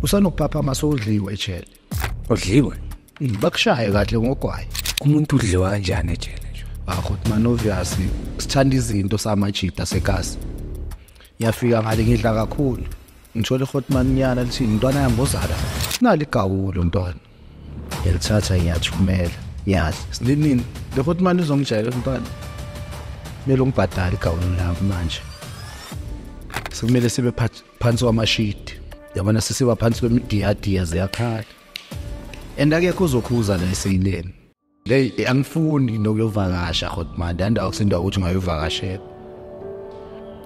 usanokuphaphama sowudliwe ejele udliwe hmm, bakushaye kahle ngogwayi umuntu udliwa kanjani ejele nje akho ah, man obvious sithanda izinto samajita sekasi yafika ngale ngidla kakhulu ngithole hotman nyana lithi intwana yambozala nali gawulo ntwana yalithatha yathumela yazi sinini le hotman izongijayela ntwana mele ungibhadale igawulo lami manje sekumele sibe phathi phansi kwamashidi yabona sisiba phansi kwemidiyadiya ziyakhala and akekho uzokhuza la eseyileni leyi eh, angifuni nokuyovakasha hotmande andawo kusinda ukuthi ungayovakashela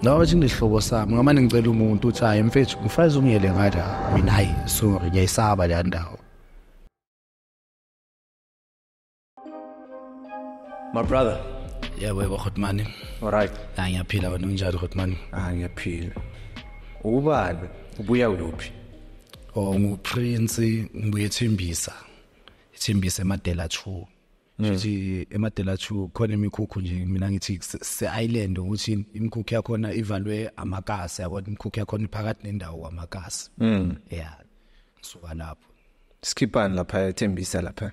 noma bathi nehlobo sami ngamane ngicela umuntu uthi hayi mfethu ngifaze ungiyele ngathi mina hayi sorry ngiyayisaba le ndawo My brother. Yeah, we were Hotman. All right. Hayi ngiyaphila wena unjani Hotman? Hayi ngiyaphila. Ubani? Ubuya kuphi? Oh, nguprince ngibuye ethembisa. Ethembisa eMadela 2. Ngithi hmm. eMadela 2 khona imikhukhu nje mina ngithi se-island ukuthi imikhukhu yakhona ivalwe amakasi yabona imikhukhu yakhona iphakathi nendawo kwamakasi. Mm. Yeah. Ngisuka lapho. Skipani lapha ethembisa lapha.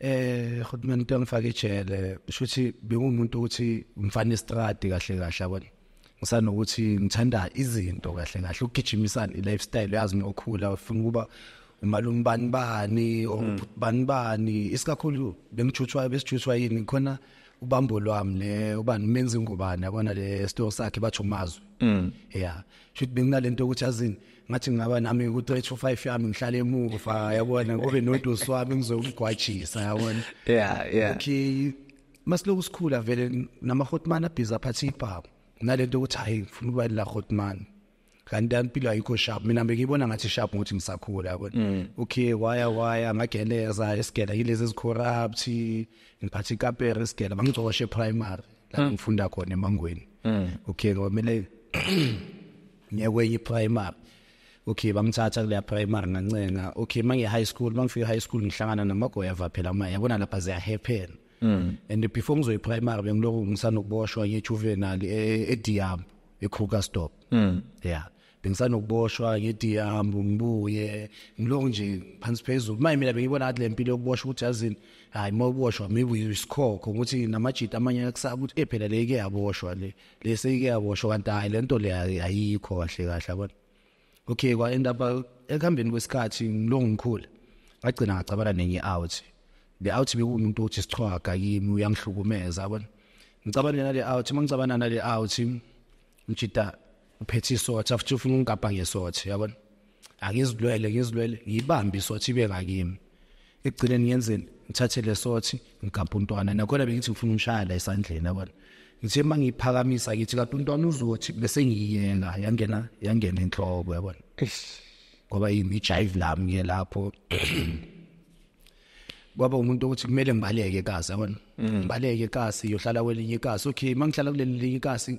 eh khudumeni into engifaka ijele kusho ukuthi bengumuntu ukuthi umfana estradi kahle kahle yabona ngisanokuthi ngithanda izinto kahle kahle ukugijimisana i-lifestyle yazi mina okhula ufuna ukuba umalume bani bani hmm. bani bani isikakhulu bengijutshwa besijutshwa yini khona ubambo lwami le ubani menzi ngubani yabona le store sakhe bathu mazwi hmm. yeah shuthi benginalento ukuthi azini ngathi ngingaba nami ku 3 to 5 yami ngihlale emuva yabona kube nodosi wami ngizomgwajisa yabona yeah yeah okay masiloku sikhula vele nama hotman abhiza phathi ibhamu nalento ukuthi hayi ngifuna ukuba la hotman kanti impilo ayikho sharp mina ngibona ngathi sharp ukuthi ngisakhula yabona mm. okay waya waya ngageleza esigela yilezi ezicorrupt ngiphatha ikapere esigela bangicoshe primary la hmm. ngifunda khona emangweni hmm. okay kwamele ngiye kwenye primary okay bangithatha kule primary ngancenga okay mangi high school mangifika high school ngihlangana namagoya va phela manje yabona lapha ziya happen Mm. and before ngizoyi primary bengilokhu ngisanokuboshwa ngejuvenile e, e Diam eKruger stop mm. yeah bengisanokuboshwa ngithi hambe ngibuye ngiloko nje phansi phezulu maye mina bengibona ngathi le mpilo yokuboshwa ukuthi yazini hayi uma uboshwa maybe isikhokho ukuthi namajita amanye akusaba ukuthi eh phela le ike yaboshwa le le seyike yaboshwa kanti hayi le nto le ayikho kahle kahle yabona okay kwa end up uh, ekuhambeni kwesikhathi ngilongo ngikhula ngagcina ngacabana nenye out le out bekuwumuntu othi sichwaga kimi uyangihlukumeza yabona ngicabana nale out uma ngicabana nale out ngijita uphethe isothi afuthi ufuna ungigabha ngesothi yabona angizilwele ngizilwele ngiyibambe isothi ibe ngakimi ekugcineni ngiyenzeni ngithathe lesothi ngigabha untwana nakhona bengithi ngifuna umshaya la esandleni yabona ngithe uma ngiyiphakamisa ngithi kanti untwana uzothi bese ngiyiyela yangena yangena enhloko yabona ngoba yimi ijive lami ngiye lapho kwaba umuntu ukuthi kumele ngibaleke kasi yabona mm. ngibaleke kasi yohlala kwelinye ikasi okay mangihlala kuleli linye ikasi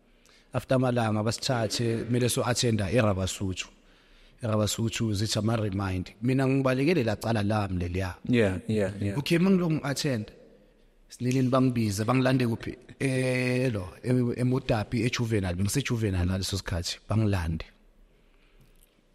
after amalanga abasithathe kumele so attenda erabasuthu erabasuthu zithi ama remind mina ngibalekele la cala lami leliya yeah yeah yeah okay mangilo ngi attend sinilini bangibize bangilande kuphi elo emodapi ejuvenile ngise juvenile ngaleso sikhathi bangilande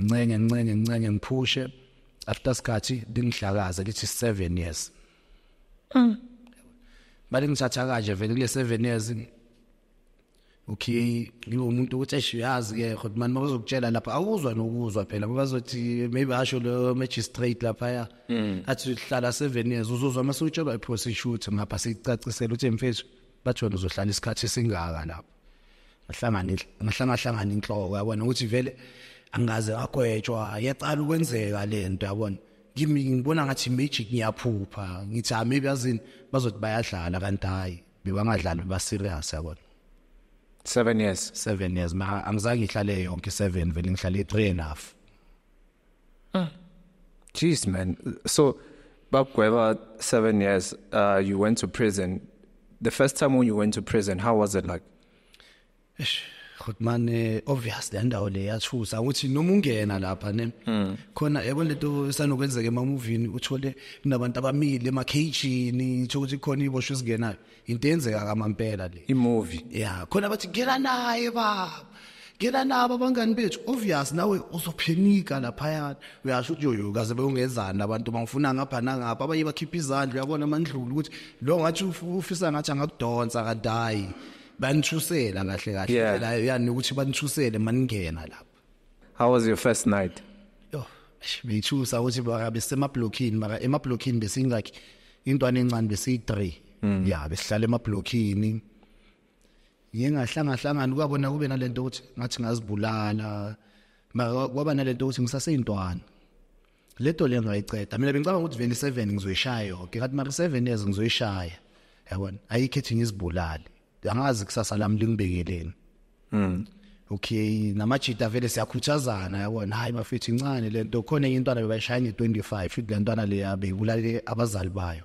ngincenge ngincenge ngincenge ngiphushe after sikhathi lingihlakaze lithi 7 years mm bale ngithatha kanje vele kule 7 years okay ngiwumuntu ukuthi eshiyazi ke kodwa manje bazokutshela lapha awuzwa nokuzwa phela bazothi maybe asho lo magistrate lapha ya mm. athi uhlala 7 years uzozwa mase utshelwa iprosecutor ngapha sicacisela ukuthi mfethu bathona uzohlala isikhathi singaka lapha ngahlangana ngahlangahlangana inhloko yabona ukuthi vele angikaze agwetshwa yaqala ukwenzeka lento yabona kimi ngibona ngathi magic ngiyaphupha ngithi ah maybe azini bazothi bayadlala kanti hayi bebangadlali ba serious yabona 7 years 7 years ma angizange ngihlale yonke 7 vele ngihlale 3 and half Mm. Jeez, man. So, Bob Gueva, seven years, uh, you went to prison. The first time when you went to prison, how was it like? Ish, good man, eh, obvious le ndawo le yathusa ukuthi noma ungena lapha ne hmm. khona yabo lento esanokwenzeka emamovini uthole kunabantu abamile emakhejini ukuthi khona iboshwe singenayo into yenzeka kamampela le imovie ya khona bathi ngena naye baba ngena nabo abangani bethu obvious nawe uzophenika laphayana uyasho ukuthi yoyo kaze bewungezani abantu bangifuna ngapha nangapha abanye bakhipha izandla uyabona amandlulu ukuthi lo ngathi ufisa ngathi angakudonsa kanti hayi banithusela kahle kahle la yani ukuthi banithusele maningena lapho How was your first night? Yo, ngithusa ukuthi baka besemablockini mara emablockini besin like intwana encane besi 3. Mm. Yeah, besihlala emablockini. Ngingahlanga hlangana kwabona kube nalento ukuthi ngathi ngazibulala. Mara kwaba nalento ukuthi ngisaseyintwana. le toli engizoyiceda mina bengicabanga ukuthi 27 ngizoyishaya yonke ngathi mara 7 years ngizoyishaya yabona ayikho ethi ngizibulale angazi kusasa lami lingibekeleni mm okay namajita vele siyakhuthazana yabona hayi bafethu incane lento khona enye intwana bebayishaya nge25 futhi lentwana leya beyibulale abazali bayo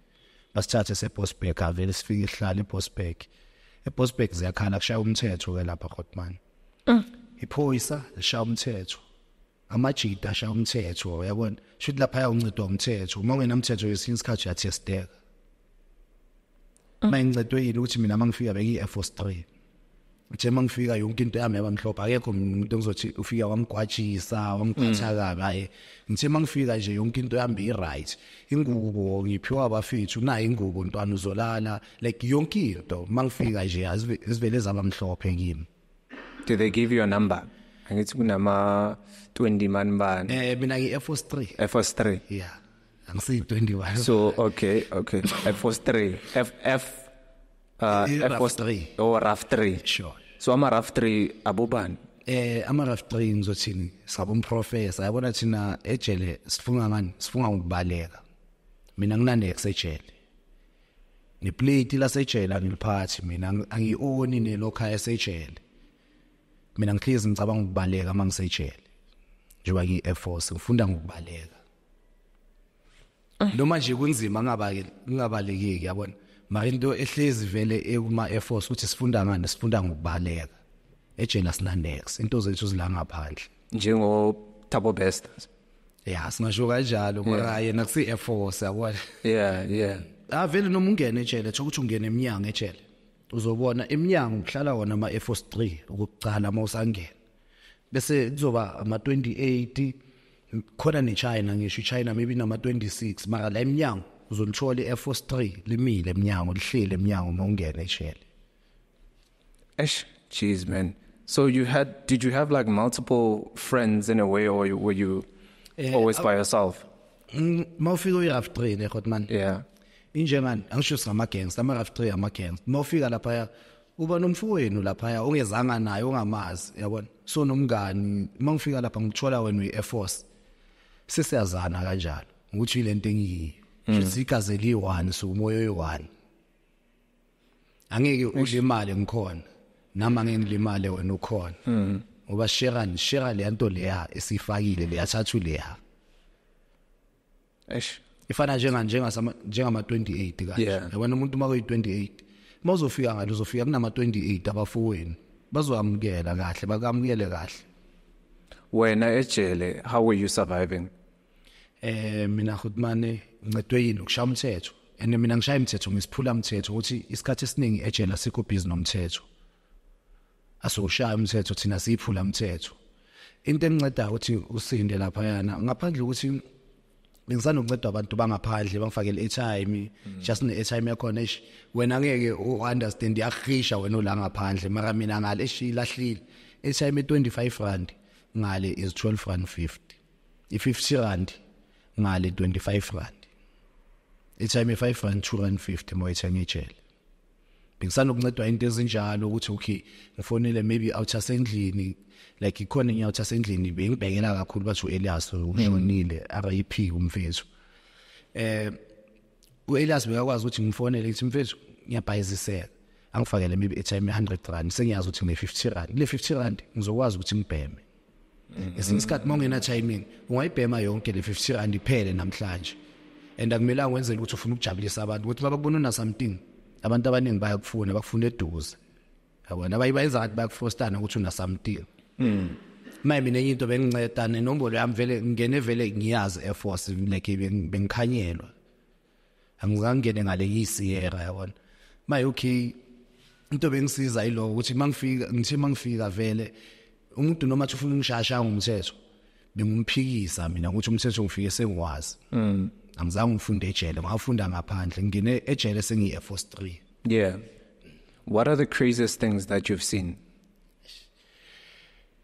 basithathe sebosberg avele sifike ihlala ebosberg ebosberg ziyakhala kushaya umthetho ke lapha khotman mm. iphoyisa lishaya umthetho amajita ashaya umthetho uyabona shuthi lapha ayawuncedwa umthetho uma ungenamthetho yesinye isikhathi uyathesteka uma ngincedwe yini ukuthi mina uma ngifika bengiyi-air force three nje mangifika yonke into yami yaba mhlophe akekho umuntu engizothi ufika wamgwajisa wamgqatha mm. kabi hayi ngithe mangifika nje yonke into yami i-right ingubo ngiphiwa abafethu nayo ingubo ntwana uzolala like yonke into mangifika nje azivele zaba mhlophe kimi did they give you a number angithi kunama 20 man bani eh mina ngi Air Force 3 Air Force 3 yeah angisi 21 so okay okay Air Force 3 F F uh, eh, Air Force 3 oh RAF 3 sure so ama RAF 3 abobani eh ama RAF 3 ngizothini sabo umprofessor yabona thina ejele sifunga ngani sifunga ukubaleka mina nginande kusejele neplate lasejele angiliphathi mina angioni nelokha esejele mina ngihlezi ngicabanga ukubaleka mangisejele njengoba ngi Air Force ngifunda ngokubaleka noma nje kunzima kungabaleki kungabalekeki yabona mara into ehlezi vele ekuma Air Force ukuthi sifunda ngani sifunda ngokubaleka ejele asinanex into zethu zila ngaphandle njengo Thabo Best yeah singasho kanjalo mara yena kusi Air Force yabona yeah yeah avele ah, noma ungene ejele thokuthi ukuthi ungene eminyango ejele uzobona eminyango kuhlala wona ama Air Force 3 ukuqala uma usangena bese kuzoba ama 28 khona ne China ngisho iChina maybe nama 26 mara la eminyango uzolithola iAir Force 3 limile eminyango lihlele eminyango uma ungena eshele Eish jeez man so you had did you have like multiple friends in a way or you, were you eh, always by yourself mm, mawufika uyiRaf 3 ne Hotman yeah injengani angisho sama gangs ama RAF 3 ama gangs mawufika lapha uba nomfowenu laphaya ongezanga naye ongamazi yabona so nomngani uma ngifika lapha ngithola wena uyi-air force sesiyazana kanjalo ukuthi yile nto engiyiyo mm. shuthi igazi eliyi-one so umoya oyi-one angeke udle imali ngikhona nami angeke ngilimale wena ukhona mm. ngoba shera shera leya nto leya esiyifakile leyathathu leya eish ifana njenga njenga njengama 28 kanje yeah. yabona umuntu uma kuyi 28 mawuzofika ngalo uzofika kunama 28 abafowenu bazoyamukela kahle bakamukele kahle wena ejele how were you surviving eh mina khutmane ncedwe yini ukushaya umthetho and mina ngishaya imithetho ngisiphula umthetho ukuthi isikhathi esiningi ejele asikho busy nomthetho asiwushaya umthetho thina siyiphula umthetho into enceda ukuthi usinde lapha yana ngaphandle ukuthi bengisanokunceda abantu bangaphandle bangifakele airtime mm. just ne airtime yakhona ish wena ngeke u understand yakhisha wena ola ngaphandle mara mina ngale ish ilahlile airtime 25 rand ngale is 12 rand 50 i 50 rand ngale 25 rand airtime 5 rand 2 rand 50 mo airtime ejele bengisanokuncedwa into ezinjalo ukuthi okay ngifonele maybe out asendlini like ikhona enye out asendlini bengibhekela kakhulu bathi uElias ushonile RIP umfethu eh uElias bekakwazi ukuthi ngifonele ngithi mfethu ngiyabhayizisela angifakele maybe airtime 100 rand sengiyazi ukuthi ngine 50 rand le 50 rand ngizokwazi ukuthi ngibheme ngesinye isikhathi uma ungena timing ungayibhema yonke le 50 rand iphele namhlanje and akumelanga wenzele ukuthi ufuna ukujabulisa abantu ukuthi babakubona una something abantu abaningi bayakufuna bakufuna eduze yabona abayi bayenza ngathi bayakufostana ukuthi una something mm maye mina enye into benginceda nenombolo yami vele ngingene vele ngiyazi air force like bengikhanyelwa angizangene ngale ngiyisiyera yabona maye okay into bengisiza yiloko ukuthi mangifika ngithe mangifika vele umuntu noma athi ufuna ungishasha ngomthetho bengumphikisa mina ukuthi umthetho ngifike sengiwazi mm. angizange ngifunde ejele ngafunda ngaphandle ngine ejele sengiyi Air Force 3 yeah what are the craziest things that you've seen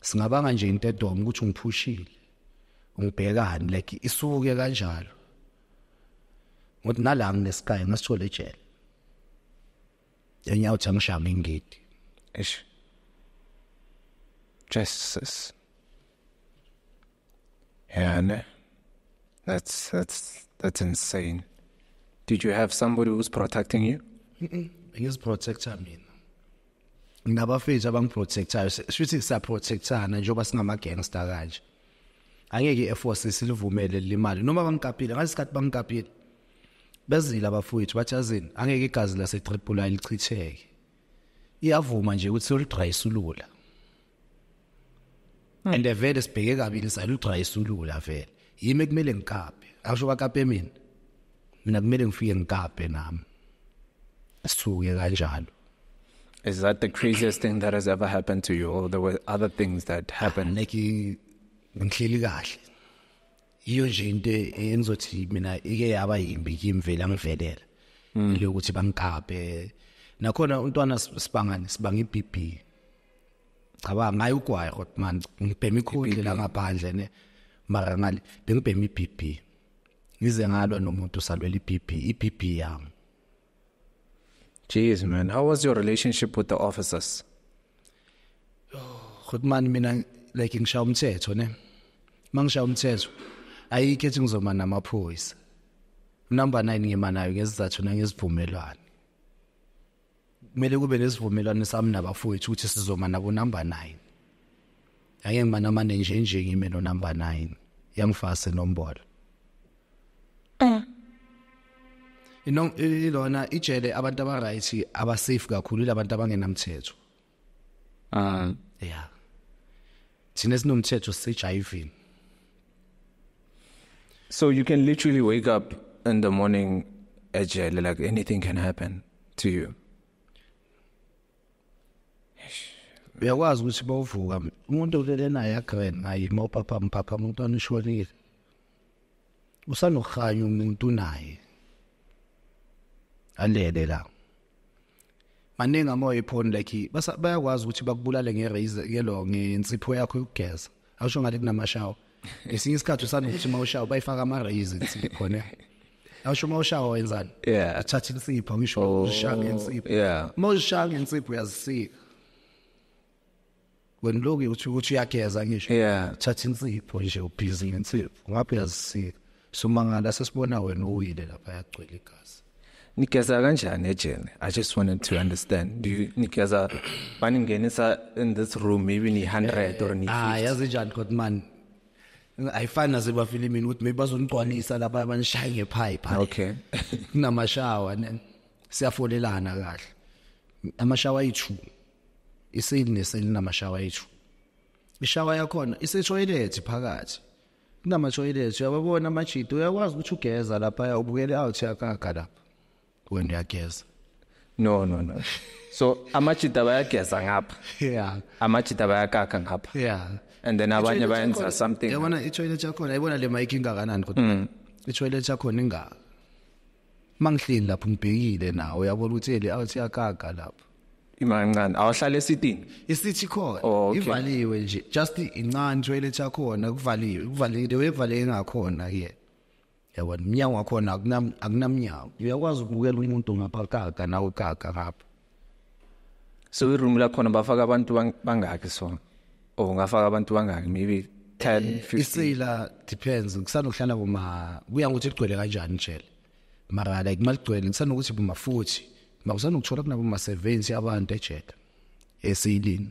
singabanga nje into edoma ukuthi ungiphushile ungibhekani like isuke kanjalo ngothi nala nginesikayo ngasithole ejele enyawo uthi angishaya ngingidi eish jesus yeah ne that's that's that's insane did you have somebody who's protecting you mm -mm. he is protector mina nginabafethu abangiprotectayo shuthi sisaprotectana njengoba singama-gangster kanje angeke i-airforce silivumele limali noma bangikapile ngalesi sikhathi bangikapile bezile abafowethu bathi azini angeke igazi lasetripula lichitheke iyavuma nje ukuthi soludrayisulula and vele sibheke kabi lisalugcwa isuluku la vele yimi kumele ngikape akusho bakape mina mina kumele ngifike ngikape nami sisuke kanjalo Is that the craziest thing that has ever happened to you or there were other things that ah, happened? Like ngihleli kahle. Iyo nje into engizothi mina ike yaba yimbi kimvela ngivelela. Hmm. Lokuthi bangikape. Nakhona untwana sibangani sibanga iBB. cabanga ngayo ugwayi hot man ngibhema ikhundle la ngaphandle ne mara ngale bengibhema iBB ngize ngalwa nomuntu salwela iBB iBB yami Jeez man how was your relationship with the officers hot man mina like ngishaya umthetho ne mangishaya umthetho ayikho ethi ngizoma namaphoyisa number 9 ngima nayo ngezizathu nangezivumelwano kumele kube nesivumelwano sami nabafowethu ukuthi sizoma nabo number 9 ngeke ngimanamane nje nje ngime no number 9 yangifase nombolo eh ino ilona ijele abantu aba right aba safe kakhulu labantu abangenamthetho Ah, uh, yeah. Thina sinomthetho sejivini. So you can literally wake up in the morning agile like anything can happen to you. uyakwazi ukuthi bawuvuka umuntu ulele naye agrand ngaye uma uphapha mphapha umntwana ushonile usanokuhanya umuntu naye alele la maningi amoya ephoni like bayakwazi ukuthi bakubulale nge-raise ngelo ngensipho yakho yokugeza awusho ngathi kunamashawa ngesinye isikhathi usanokuthi uma ushawa bayifaka ama-raise insipho khona awusho uma ushawa wenzani uthatha insipho ngisho oh, uzishaya ngensipho uma uzishaya ngensipho uyazisika wena loku uthi ukuthi uyageza ngisho yeah thatha insipho nje ubhizi ngensipho ngabe uyazisika somangala sesibona wena uwile lapha yagcwele igazi nigeza kanjani ejele i just wanted to understand do you nigeza baningenisa in this room maybe ni 100 or ni 50 ah yazi njani kodwa man ayifani nasebafilimini ukuthi maybe bazonigcwalisa lapha abanishaye ngepipe okay kunamashawa siyafolelana kahle amashawa ayi-2 isili nesili namashawa ethu ishawa yakhona isetoilet phakathi kunamatoilet uyababona amajidi uyakwazi ukuthi ugeza lapha ubukele out yakakha lapha wena uyageza no no no so amajida bayageza ngapha yeah amajida bayakakha ngapha yeah and then abanye bayenza something yabona itoilet yakhona yabona le mic ingakanani kodwa mm. itoilet yakhona ingaka mangihleli lapho ngibhekile nawo yabona ukuthi eli awuthi yakaga lapho imancane awuhlale esitini isithi khona oh, okay. ivaliwe nje just incane toilet yakhona kuvaliwe kuvalile wevaleke ngakhona ke yabona umnyango wakhona akunam akunamnyango uyakwazi ukubukela umuntu ngaphakathi nawe kaka ngapha so iroom la khona bafaka abantu bangaki so oh ngafaka abantu bangaki maybe 10 15 eh, isila depends ngisanokuhlala kuma kuya ngokuthi igcwele kanjani njele mara like maligcwele ngisanokuthi buma futhi makusana ukuthola kunabo ma 70 abantu ejele esilini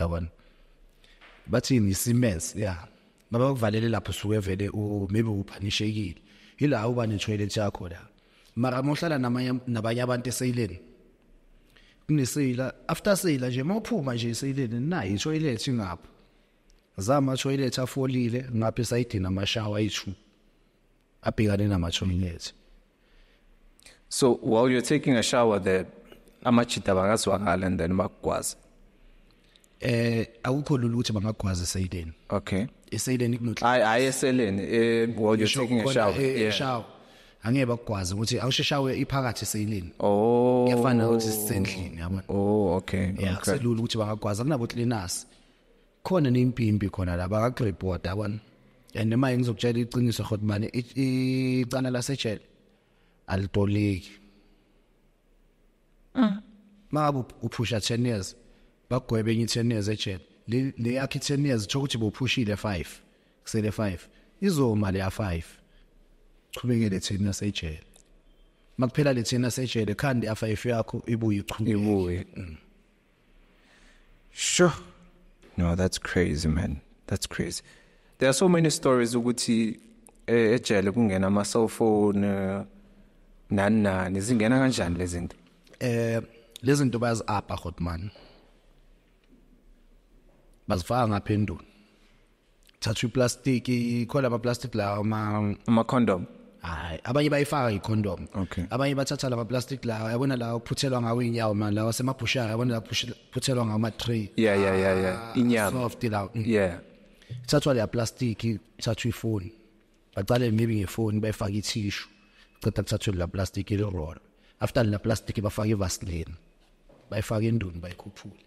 yabona bathini isimens ya baba kuvalele lapho suke vele u maybe uphanishekile ila uba ne toilet yakho la mara mohlala namanye nabanye abantu eseyileni kuneseyila after seyila nje mawuphuma nje eseyileni nayi toilet ingapho zama toilet afolile ngapha esayidini amashawa ayi-2 abhekane namashumi ethu so while you're taking a shower there amajita bangazwakala and then bakugwaze eh awukho lula ukuthi bangagwaze eSayideni okay eSayideni kunotla hayi hayi eseleni eh while you're taking a shower eh, yeah shower angeke bakugwaze ukuthi awusheshawe iphakathi eSayideni oh yafana ukuthi sisendlini yabona oh okay yeah selula ukuthi bangagwaza kunabo cleaners khona nempimpi khona la bakaxreporta yabona and uma ngizokutshela iqiniso khot mani icana lasejele alitoliki mm. mangabe uphusha 10 years bagwebe enye 10 years ejele le yakhe 10 years kusho ukuthi bophushile 5 kusele 5 izoma le ya 5 chubekele thina sejele makuphela le thina sejele khandi afa ife yakho ibuye ichubeke ibuye mm. Sure. No, that's crazy man. That's crazy. There are so many stories ukuthi eh, ejele kungena ama cell phone eh, nani nani zingena kanjani lezi zinto? Eh lezi zinto bayazi apha Godman. Bazifaka ngaphendula. thatha iplastic ikhona ama plastic la uma uma condom hayi abanye bayifaka icondom okay. abanye bathatha lama plastic la yabona la uphuthelwa ngawo inyawo man lawa semabhushara yabona la phuthelwa ngawo ama tray yeah yeah yeah yeah ah, inyama soft la mm. yeah thathwa le plastic thathwa ifoni baqale maybe ngefoni bayifaka ithishu ceda kuthathwe la plastic ile roll after la plastic bafaka ivaseline bayifaka enduni bayikhuphule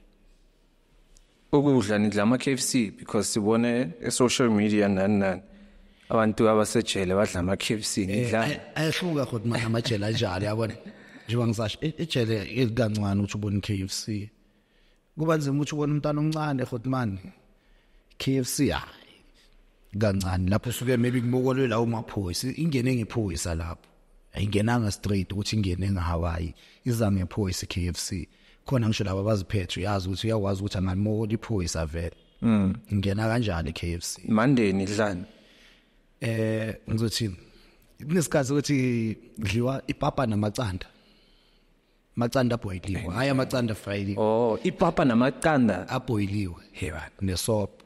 ukudla nidla ama KFC because sibone e social media nani nani abantu abasejele badla ama KFC eh, nidla ayehluka kodwa manje amajele anjalo yabona njengoba ngisasho e, ejele elikancane ukuthi ubone KFC kuba nzima ukuthi ubone umntana omncane kodwa manje KFC hayi kancane lapho suke maybe kubokolwe la umaphoyisa ingene ngephoyisa lapho ayingenanga straight ukuthi ingene ngahawaii iza ngephoyisa KFC khona ngisho laba baziphethe uyazi ukuthi uyakwazi ukuthi angamoli iphoyisa vele mm ngena kanjani KFC mandeni dlani eh ngizothini kunesikhathi ukuthi kudliwa ipapa namacanda macanda aboyiliwe hayi amacanda fried oh ipapa namacanda aboyiliwe heba nesopo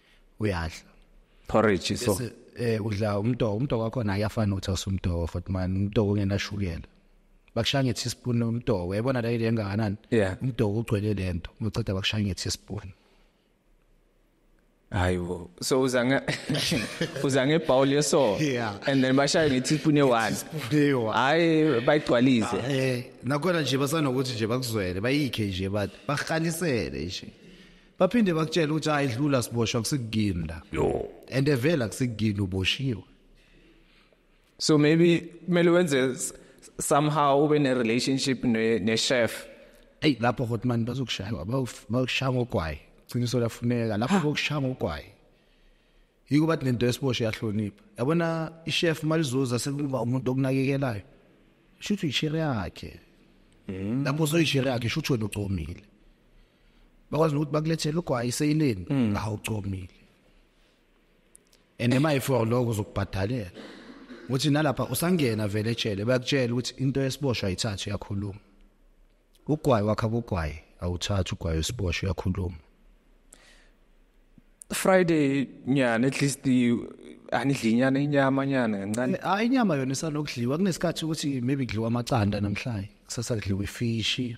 uyadla porridge so eh udla umtoko umtoko wakho naye afana uthi usumtoko futhi man umtoko ungenashukela bakushaya ngethi spoon umtoko uyabona la ile engakanani umtoko ugcwele lento uceda bakushaya ngethi spoon hayibo so uza nge uza nge bowl yeso yeah. and then bashaya ngethi spoon ewan hayi bayigcwalise ah, eh nakona nje basanokuthi nje bakuzwele bayikhe nje bathi bakhalisele nje baphinde bakutshela ukuthi hayi dlula siboshwa kusikugini la yo and evela kusikugini uboshiwe so maybe kumele wenze somehow ube ne relationship ne, ne chef hey lapho hotman bazokushaya bakushaya ngogwayi qiniso lafuneka lapho bokushaya ngogwayi yiko bathi nento esiboshe yahlonipha yabona i-chef malizoza sekuba umuntu okunakekelayo shuthi uyishire yakhe mm. lapho soyishire yakhe shuthi wena ucomile bakwazi nokuthi bakulethele ugwayi seyileni mm. awucomile and ema ifor lokho uzokubhadalela uthi nalapha usangena vele etshele bayakutshela ukuthi into yesiboshwa ayithathe yakhuluma ugwayi wakha kugwayi awuthathe ugwayi wesiboshwa yakhuluma Friday nyana at least anidli inyana inyama nyana kancane ah inyama yona isanokudliwa kunesikhathi ukuthi maybe kudliwa amacanda namhlanje kusasa kudliwa ifishi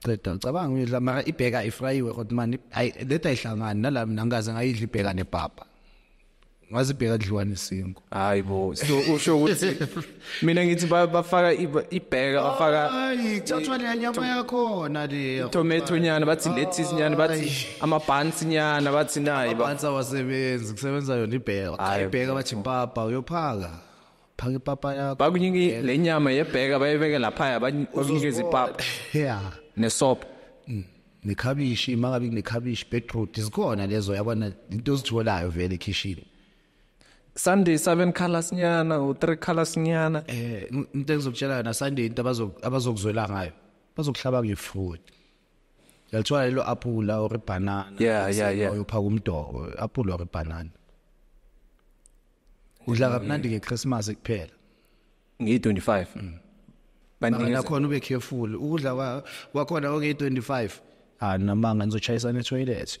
qeda ucabanga uyidla mara ibheka ayifrayiwe kodwa mani ayi leta ayihlangani nala mina ngikaze ngayidla ibheka nepapa ngaze ibheka dliwa nesingo hayi bo so usho ukuthi mina ngithi bafaka ibheka bafaka ithathwa le nyama yakhona le tomato nyana bathi lettuce nyana bathi ama buns nyana bathi nayi ba buns awasebenzi kusebenza yona ibheka ibheka bathi impapa uyophaka phaka ipapa yakho bakunyingi lenyama yebheka bayibeke lapha bakunikeza ipapa yeah nesopo mm. nekhabishi makabi nekhabishi beetroot zikhona lezo yabona into ozitholayo vele ekhishini Sunday 7 colors nyana u 3 colors nyana eh into engizokutshela yona Sunday into abazo abazokuzwela ngayo bazokuhlaba ngefruit yalithola lelo apula or banana yeah yeah yeah uyophaka umdoko apula or banana udla kamnandi ke Christmas kuphela ngi 25 mm. bantu nakhona ube careful ukudla kwakhona oke 25 ah namanga nizochayisa ne toilet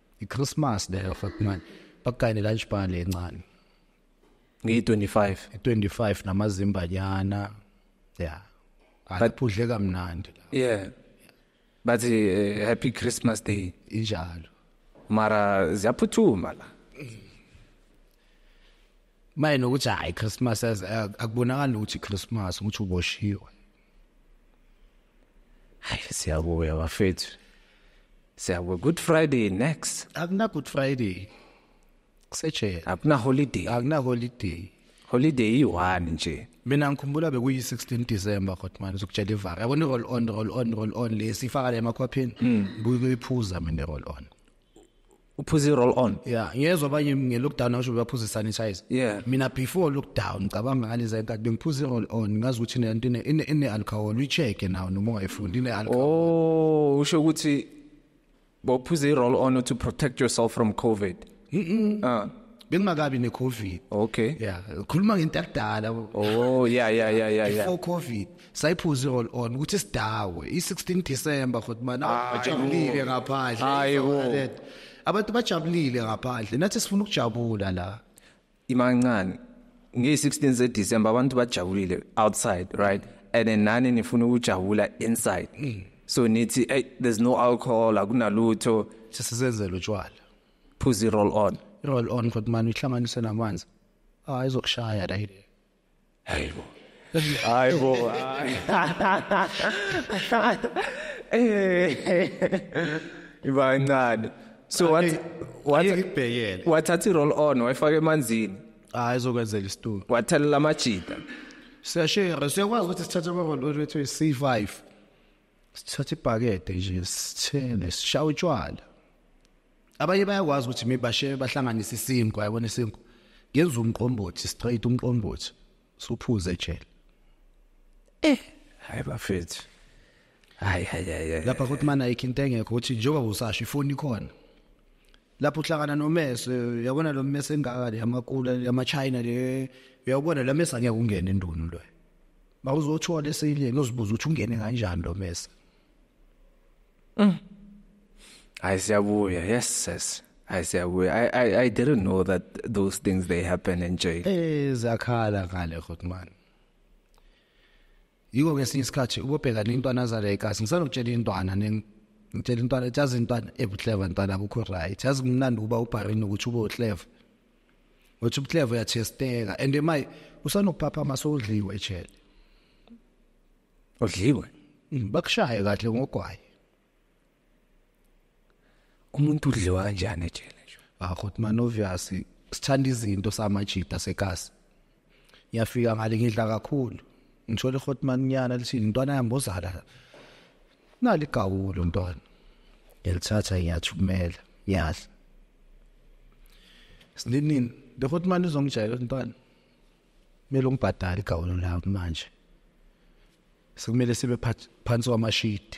iChristmas leyo fuck man bakugayine lunch bar le ncane ngiyi-25 25 namazimbanyana yeah akaphudle kamnandi yeah bathi uh, happy christmas day injalo mara ziyaphuthuma la maye nokuthi hayi christmas akubonakali ukuthi christmas ukuthi uboshiwe hayi siyabuya bafethu siyabuya good friday next akuna good friday kusejele akuna holiday akuna holiday holiday iyi-one nje mina ngikhumbula bekuyi-16 december kodwa manje uzokutshela ivara yabona i-roll on roll on roll on le siyifaka le emakhwapheni hmm. buyikuyiphuza mina i-roll on uphuze roll on yeah ngiyezwa abanye ngelockdown awusho baphuza sanitizer yeah mina before lockdown ngicabanga ngalezi nkathi bengiphuza roll on ngazi ukuthi lento ine ine alcohol uyicheke nawo noma ungayifundi ine alcohol oh usho ukuthi bophuze roll on to protect yourself from covid mhm ah bengingakabi necovid okay yeah khuluma ngento yakudala oh yeah yeah yeah yeah before covid sayiphuze all on ukuthi sidawe i16 December futhi mana bajabulile ngaphandle hayi wo abantu bajabulile ngaphandle nathi sifuna ukujabula la imancane ngi16 ze December abantu bajabulile outside right and then nani nifuna ukujabula inside mm. so nithi hey there's no alcohol akunalutho sisenzele utshwala phuzi roll on roll on futhi mana ihlanganise namanzi ah izokushaya la Hayibo. Hayibo. Ibancane. So what what ibhekele. Wathatha i-roll on wayifaka emanzini. Hayi izokwenzela isitulo. Wathelela amajita. Siyashare siyakwazi ukuthi sithathe ama-roll on wethu 5 sithatha ibhakede nje sithele sishawa utshwala abanye bayakwazi ukuthi mibashe bahlanganise isinkwa yabona isinkwa ngenza umqombothi straight umqombothi suphuze ejele eh hayi bafethu hayi hayi hayi lapha kuthi mana ayikho into engekho ukuthi njengoba usasho ifoni ikhona lapho uhlangana nomese uyabona lo mese engaka le yamakula yamachina le uyabona la mese angeke ungene endunu loyo mawuzothola esileni uzibuza ukuthi ungene kanjani lo mesa mm. hayi siyabuya yes sis I say we I, I I didn't know that those things they happen in jail. Eh zakhala ngale khotman. Yiko ngesinye isikhathi ubobheka nentwana zale ekhasi ngisanokutshela intwana ngitshela intwana jazi intwana ebuhleva intwana akukho right. Jazi kumnandi uba ubharini ukuthi ube uhleva. Wathi ubuhleva uyachesteka and my usanokuphaphama sodliwe ejele. Odliwe. Mm, bakushaye kahle ngogwayi. Umuntu udliwa kanjani ejele nje? Ah, kodwa man obvious sithanda izinto samajita sekasi. ngiyafika ngale ngidla kakhulu ngithola ihotmaninyana lithi ntwana yami bozala nali gawulo ntwana ngilithatha ngiyathumela ngiyadla sinini le hotmani izongijayela ntwana kumele ungibhadale igawulo lakho manje sekumele sibe phansi kwamashidi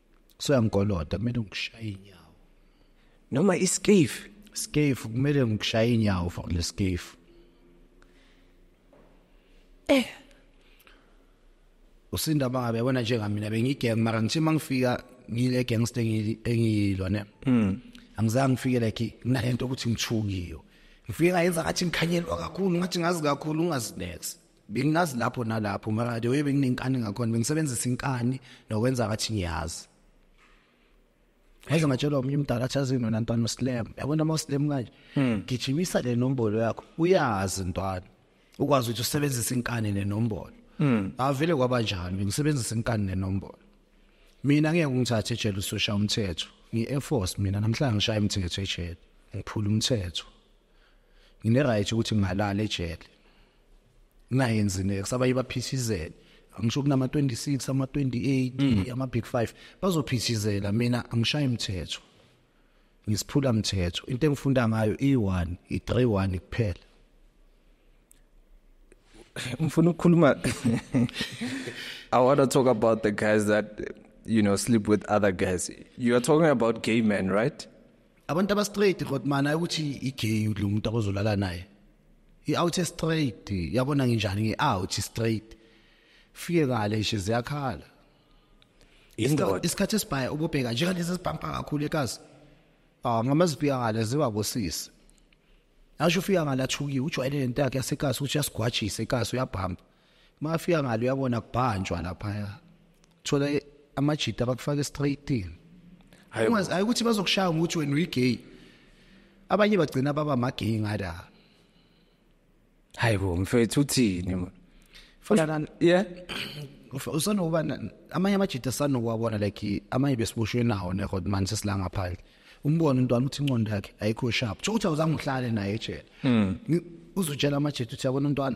soyangikoloda kumele ngikushaye inyawo noma iskefu skefu kumele ngikushaye inyawo for le skefu eh usinda bangabe yabona njengamina bengigeng mara ngithe mangifika ngile gangster engiyilwa ne mm angizange ngifike like nginalento ukuthi ngithukiyo ngifike ngayenza ngathi ngikhanyelwa kakhulu ngathi ngazi kakhulu ungazinex bengingazi lapho nalapho mara the way benginenkani ngakhona bengisebenzisa inkani nokwenza ngathi ngiyazi Hayi ngatshelwa omunye umdala achaze nona ntwana uSlam. Yabona ama Slam kanje. Hmm. Gijimisa le nombolo yakho. Uyazi ntwana. Ukwazi ukuthi usebenzise inkani nenombolo. Hmm. Avele kwaba njalo ngisebenzisa inkani nenombolo. Mina ngeke ngithathe ejele usosha umthetho. Ngi Air Force mina namhlanje ngishaya umthetho ejele. Ngiphula umthetho. Ngine right ukuthi ngingalala ejele. naye nzine kusabanye baphishizele angisho kunama 26 ama 28 mm. ama big 5 bazophishizela mina angishaye imithetho ngisiphula mthetho into engifunda ngayo i1 i31 kuphela ngifuna ukukhuluma i want to talk about the guys that you know sleep with other guys you are talking about gay men right abantu aba straight kodmana ukuthi i gay lo muntu abozolala naye i out straight yabona nginjani ngi out straight fike ngale nje ziyakhala indoda isikhathi esibhaye ubobheka nje lezi sibhampa kakhulu ekazi ah ngamazipika ngale ziba bosisi asho ufika ngale athukiwe ujwayele lento yakhe yasekazi ukuthi yasigwajise ekazi uyabhamba mafika ngalo uyabona kubhanjwa laphaya thola amajita abakufaka estraightin hayi ukuthi bazokushaya ngokuthi wena uyigay abanye bagcina baba amagay ngada hayi bo mfethu uthini fana yeah usanokuba amanye amajita sanokuwabona like amanye besiboshwe nawo nekhod manje sesilanga phandle umbone umntwana uthi inqondo yakhe ayikho sharp so uthi awuzange uhlale naye ejele hmm. uzotshela amajita uthi yabona umntwana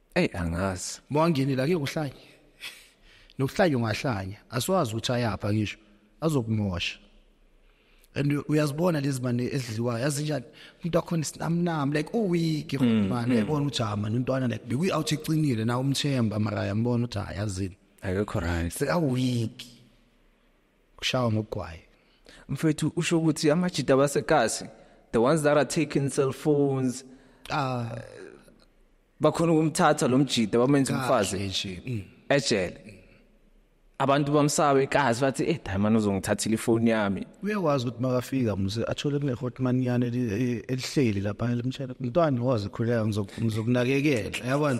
Ey angazi. Mawangeni la kuyokuhlanya. Nokuhlanya ungahlanya. Asiwazi ukuthi ayapha ngisho. Azokumosha. And uyazibona lezi mane ezidliwayo yazinjani umuntu akhona isinamnam like oh week mm, man mm. yabona ukuthi ah man untwana like bekuyi out ecinile na umthemba mara yambona ukuthi ah yazini akekho right seka week kushawa ngogwaye mfethu usho ukuthi amajita basekasi the ones that are taking cell phones ah uh, bakhona ukumthatha lo mjida bamenza umfazi nje mm. ejele mm. abantu bamsabe ikazi bathi eh diamond uzongithathile ifoni yami uyawazi ukuthi makafika mse athole kune hotman yana elihleli lapha elimtshela mntwana wazi khuleka ngizokunakekela yabona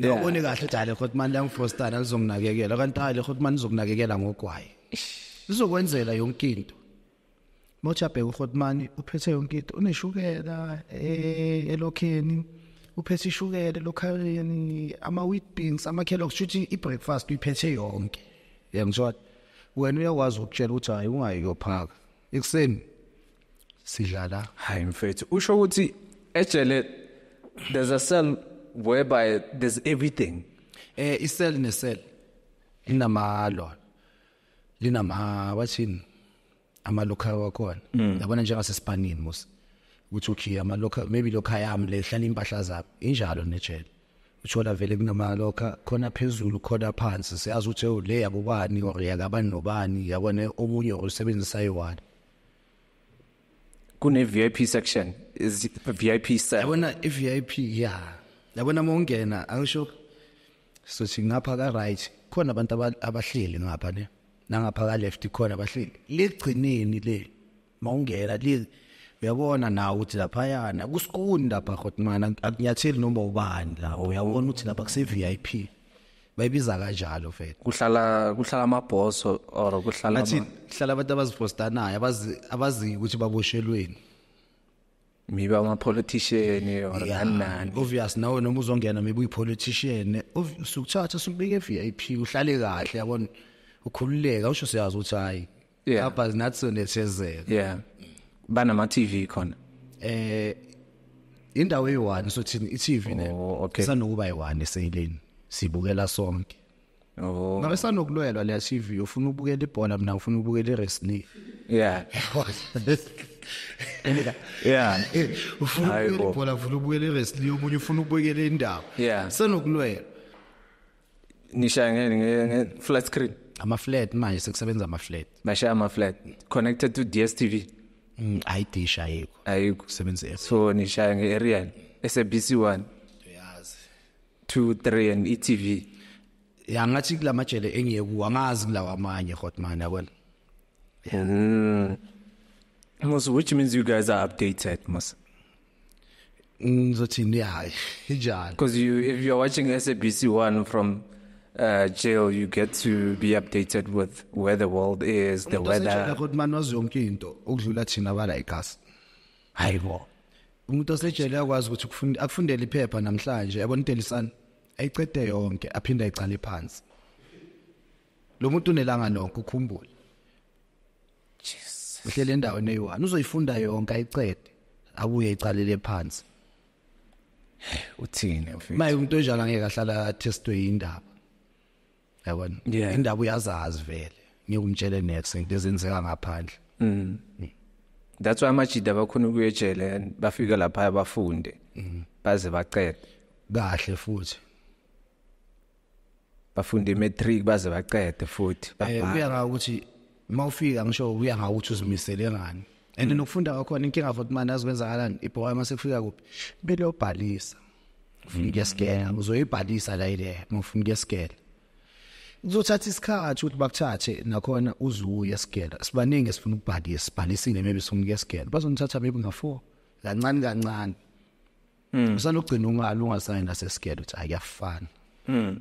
Ngiyabona kahle ukuthi ale hotman langifostana lizonginakekela kanti ale hotman izokunakekela ngogwayi. Lizokwenzelwa yonke into. Mochabheka uRhotmani uphethe yonke into uneshukela eh, elokheni uphethe ishukela elokhaleni ama wheat beans ama Kellogg's shuthi i breakfast uyiphethe yonke yangizwa wena uyakwazi ukutshela ukuthi hayi ungayi yophaka ekuseni sidlala hayi mfethu usho ukuthi ejele there's a cell whereby there's everything eh isel nesel inamalo lina ma wathini ama local wakhona mm. yabona njengase Spanini musa ukuthi ukhiya ama local maybe local yami le hlala impahla zabo injalo nejele uthola vele kunama local khona phezulu khona phansi siyazi ukuthi oh, le yakubani or yakabani nobani yabona omunye osebenzisa yiwani kune VIP section is VIP section yabona i VIP yeah yabona mongena angisho sothi ngapha ka right khona abantu abahleli ngapha ne nangapha ka left khona abahleli ligcineni le mawungena li uyabona nawe ukuthi lapha yana kusikuni lapha khotmana akunyatheli noma ubani la uyabona ukuthi lapha kuse VIP bayibiza kanjalo mfethu kuhlala kuhlala amabhoso or kuhlala athi kuhlala abantu abazipostanayo abazi abazi ukuthi baboshelweni maybe ama politician or kanani obvious nawe noma uzongena maybe uyi politician usukuthatha sukubeke VIP uhlale kahle yabona ukhululeka usho siyazi ukuthi hayi lapha zinathi sonethezeka yeah banama TV khona eh indawo eyi-1 sothini i-TV ne oh, okay. isanokuba yi-1 eseyileni sibukela sonke Oh. Ngabe sanokulwelwa le TV ufuna ubukela ibhola mina ufuna ubukela iwrestling. Yeah. yeah ufuna ukubukela ibhola ufuna ukubukela iwrestling omunye ufuna ukubukela indaba yeah senokulwela nishaya ngene nge flat screen ama flat manje sekusebenza ama flat bashaya ama flat connected to DStv mm ayi dish ayikho ayikho kusebenza so nishaya nge aerial SABC 1 2 3 and etv ya ngathi kulamajele engiye kuwa ngazi kulawa amanye hotman yabona mm. Mos, which means you guys are updated, Mos. Ngizothini hayi njalo. Because you if you're watching SABC 1 from uh, jail you get to be updated with where the world is, the weather. Kodwa manje wazonke into ukudlula thina bala ikhasi. hayibo umuntu osejele akwazi ukuthi kufunda akufundele iphepha namhlanje yabona udelisana ayicede yonke aphinde ayicale phansi lo muntu unelanga nokho ukhumbule Jesus uhlele endaweni eyi-1 uzoyifunda yonke ayicede abuye icalele phansi uthini maye umuntu onjalo angeke ahlala athestwe indaba yabona yeah. indaba uyazazi vele ngikumtshele next into ezenzeka ngaphandle mm. mm. that's why amajida abakhona ukuyejele and bafika lapha abafunde mm. baze bacede kahle futhi bafunde imatric baze bacede futhi eh, babhala kuya ngakuthi mawufika ngisho kuya ngakuthi uzimisele ngani and mm. nokufunda kwakhona inkinga futhi manje azikwenzakalani ibhowa uma sekufika kuphi kumele obhalisa ufuna ukuyasigela mm. uzoyibhalisa la ile uma ufuna ukuyasigela kuzothatha isikhathi ukuthi bakuthathe nakhona uzuye sigela sibaningi esifuna ukubhalisa sibhalisile maybe sifuna ukuyasigela bazonithatha maybe nga-four kancane kancane mm. usanogcina ungali ungasayini nasesigela ukuthi ayafana mm.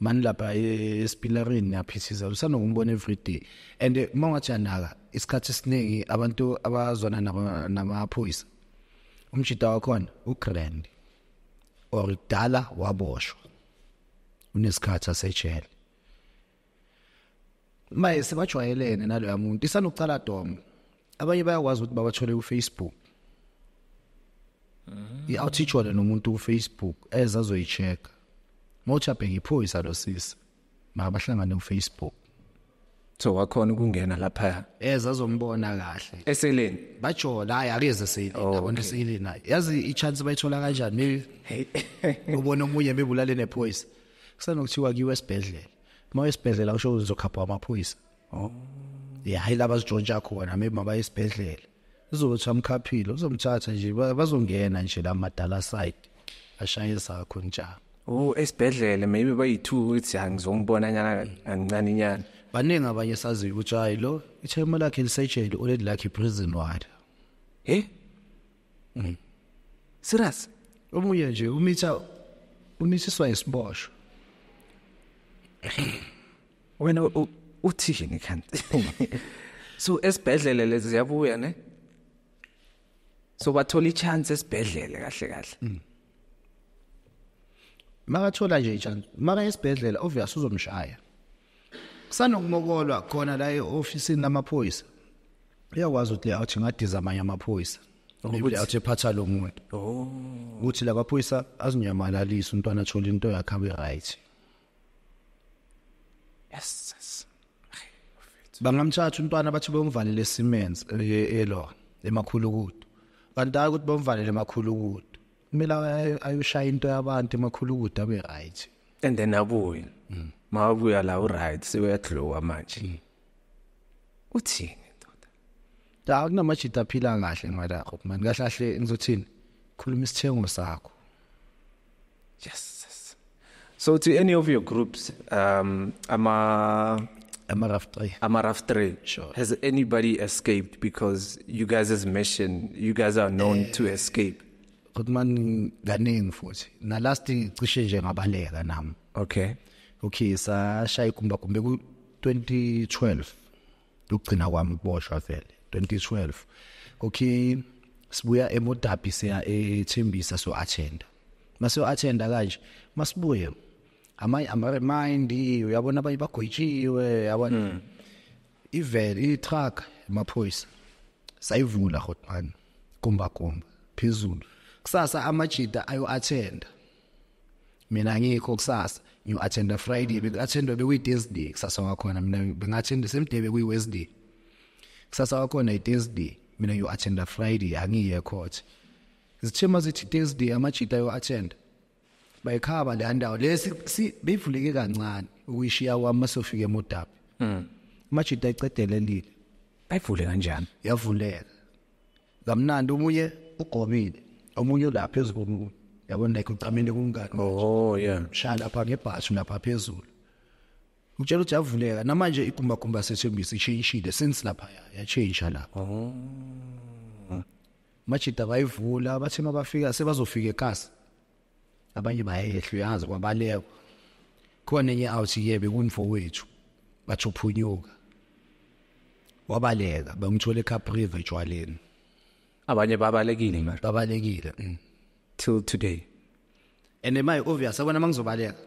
mani lapha e, esipilarini niyaphithiza usanokumbona everyday and eh, uma ungathi anaka isikhathi esiningi abantu abazwana namaphoyisa umjita wakhona ugrand or kudala waboshwa unesikhathi asejele maye sebajwayelene naloya muntu isanokucala domo abanye bayakwazi ukuthi babathole kufacebook mm. i-out ithole nomuntu kufacebook eza azoyi-check-a uma uthi abheke iphoyisa lo sisi mabahlangane kufacebook so wakhona ukungena lapha eza azombona kahle eseleni bajola hayi akeze seleni oh, yabona eseleni hayi yazi i-chance bayithola kanjani maybe ubona omunye maybe ulale nephoyisa kusanokuthiwa kiwe esibhedlela uma esibhedlela usho uzokhapha amaphoyisa oh yeah hayi laba sijontsha khona maybe mabaye esibhedlela uzothi amkhaphile uzomthatha nje bazongena nje la madala side ashaye sakho njalo oh esibhedlela maybe bayithu ukuthi angizongibona nyana angincane nyana baningi abanye sazi ukuthi hayi lo ithema lakhe lisejele oledi lakhe prison ward eh mm. serious omunye nje umitha umithiswa isiboshwa wena uthishe ngekhanda so esibhedlele lezi ziyabuya ne so bathola ichance esibhedlele kahle kahle mm. makathola nje ichance maka esibhedlela obvious uzomshaya kusanokumokolwa khona la eoffice namaphoyisa uyakwazi ukuthi awuthi ngadiza amanye amaphoyisa ukuthi awuthi phatha lo muntu oh. ukuthi la kaphoyisa azinyamalaliso umntwana athola into yakhe abe right yes yes bangamtshatha umntwana bathi bomvalele Siemens eh, elo emakhulukudu kanti hayi ukuthi bomvalele emakhulukudu kumele ayoshaya into yabantu emakhulukudu abe right and then abuye mm. makabuya la uright sewuyadlowa manje mm. uthini ndoda la kunamajita aphila kahle ngwala man kahle kahle ngizothini khuluma isithengo sakho yes so to any of your groups um ama ama rough three ama rough three sure has anybody escaped because you guys as mentioned you guys are known uh, to escape kodwa man kaningi futhi na last cishe nje ngabaleka nami okay okay sashaya ikumba kumbe ku 2012 ukugcina kwami ukuboshwa vele 2012 okay sibuya emodabi siya ethembisa so attenda mase attenda kanje masibuye amanye ama remind uyabona abanye bagoyitshiwe yabona hmm. ivel i truck emaphoyisa sayivula hotman kumba kumba phezulu kusasa amajita ayo attenda mina ngikho kusasa ngiyo attenda friday bengathenda bekuyi thursday kusasa wakhona mina bengathenda same day bekuyi wednesday kusasa wakhona i thursday mina ngiyo attenda friday angiye court zithema zithi thursday amajita yo attenda bayikhaba le ndawo lesi si beyivuleke kancane ukuyishiya kwami masofika emodaphi mm. majita icedelelile bayivule kanjani yavuleka kamnandi omunye ugomile omunye ulapha phezu komunye yabona like ucamele kumngane oh yeah shaya lapha ngebhashi lapha phezulu utshela ukuthi yavuleka namanje igumbagumba sethembisa ishintshile since lapha yachange lapha oh majida bayivula bathi mabafika sebazofika ekasi abanye bayehlu yazi kwabaleka khona enye awuthi yebe kumfowethu bathi uphunyuka wabaleka bengithole eCapriva ejwaleni abanye babalekile manje babalekile mm. till today and my obvious abona mangizobaleka